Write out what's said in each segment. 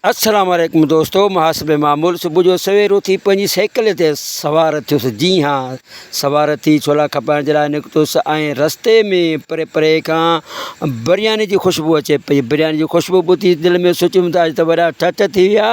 السلام عليڪم دوستو محاسب معمول صبح جو سوير اٿي پنهنجي سائيڪل تي سوار ٿيس جي ها سوار ٿي ڇولا کپائڻ جي لاء نڪتس ۽ رستي ۾ پري پري کان برياني جي خوشبو اچي پئي برياني جي خوشبو ٻڌي دل ۾ سوچيم ته اڄ ته وڏا ٺٺ ٿي ويا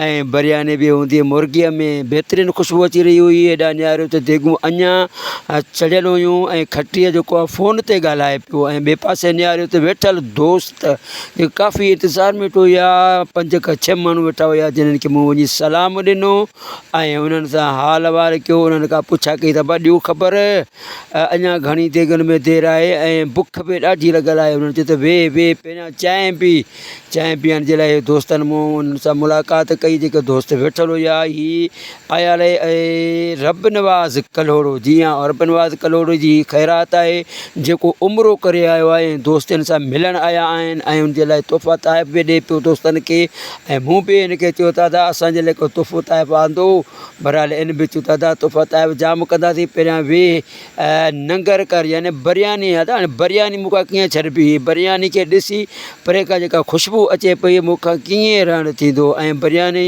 ۽ برياني به هوندي مرغيء ۾ بهترين خوشبو اچي رهي هئي هيڏا نياريو ته ديڳون اڃا چڙهيل هيون ۽ کٽيء جو ڪو فون تي ڳالهائي پيو ۽ ٻئي پاسي نياريو ته ويٺل دوست ته ڪافي انتظار ۾ ويٺو هيا پنج کان ڇهه ماڻهو ويٺا هيا جنن کي مون وڃي سلام ڏنو ۽ انهن سان حال احوال ڪيو انهن کان پڇا ڪئي ته ابا ڏيو خبر اڃا گهڻي ديڳن ۾ دير آهي ۽ بک به ڏاڍي لڳل آهي انهن چيو ته ويهه ويهه پهريان چانهه پي چانهه پيئڻ جي لاء دوستن مون انهن سان ملاقات ڪئي جيڪي دوست ويٺل هيا هي آيل آهي ۽ رب نواز ڪلهوڙو جي ۽ رب نواز ڪلهوڙو جي هي خيرات آهي جيڪو عمرو ڪري آيو آهي ۽ دوستن سان ملڻ آيا آهن ۽ ان جي لاء تحفا تحائف به ڏي پيو دوستن کي ۽ مون به ان کي چيو دادا اسان جي لاء ڪو تحفو تحائف آندو بهرحال ان به چيو دادا تحفا تحائف جام ڪنداسين پهريان ويهه ننگر ڪر يعني برياني آ تان برياني مون کان ڪيئن ڇڏبي هي برياني کي ڏسي پري کان جيڪا خوشبو اچي پئي مون کان ڪيئن رهڻ ٿيندو ۽ برياني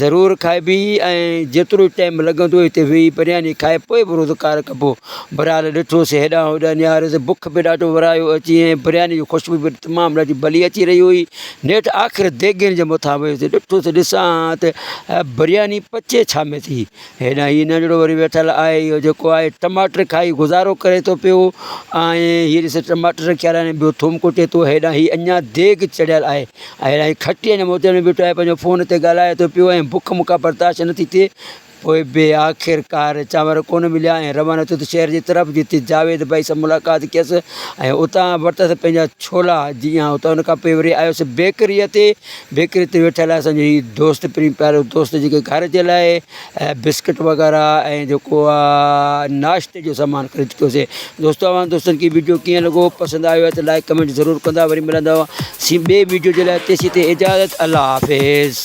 ضرور کائبي ۽ جيترو ٽائيم لڳندو هتي ويهي برياني کائي پوء به روزگار ڪبو برحال ڏٺوسي هيڏانهن هوڏانهن نهاريوسي بک به ڏاڍو ورايو اچي ۽ برياني جي خوشبو به تمام ڏاڍي ڀلي اچي رهي هئي نيٺ آخر ديڳين جي مٿان ويهيس ڏٺوسي ڏسان ها ته برياني پچي ڇا ۾ ٿي هيڏانهن هي ننڍڙو وري ويٺل آهي اهو جيڪو آهي ٽماٽر کائي گذارو ڪري ٿو پيو ۽ هي ڏس ٽماٽر رکيا آهن ٻيو ٿوم ڪٽي ٿو هيڏانهن هي اڃا ديڳ چڙهيل آهي هيڏانهن هي کٽيء جي موتين ۾ بيٺو آهي پنهنجو فون تي ڳالهائي ٿو پيو ۽ بک مون کان برداشت نٿي ٿئي پوء به آخرڪار چانور ڪونه مليا ۽ روانو ٿيو ته شهر جي طرف جتي جاويد ڀائي سان ملاقات ڪيس ۽ اتان ورتس پنهنجا ڇولا جي ۽ اتان ان کان پوء وري آيس بيڪريء تي بيڪري تي ويٺل آهي اسان جو هي دوست پرين پيارو دوست جيڪي گهر جي لاء بسڪٽ وغيره ۽ جيڪو آ ناشتي جو سامان خريد ڪيوسي دوستو اوهان دوستن کي ويڊيو ڪيئن لڳو پسند آيو آهي ته لائڪ ڪمينٽ ضرور ڪندا وري ملندو سين ٻي ويڊيو جي لاء تيسين تي اجازت الله حافظ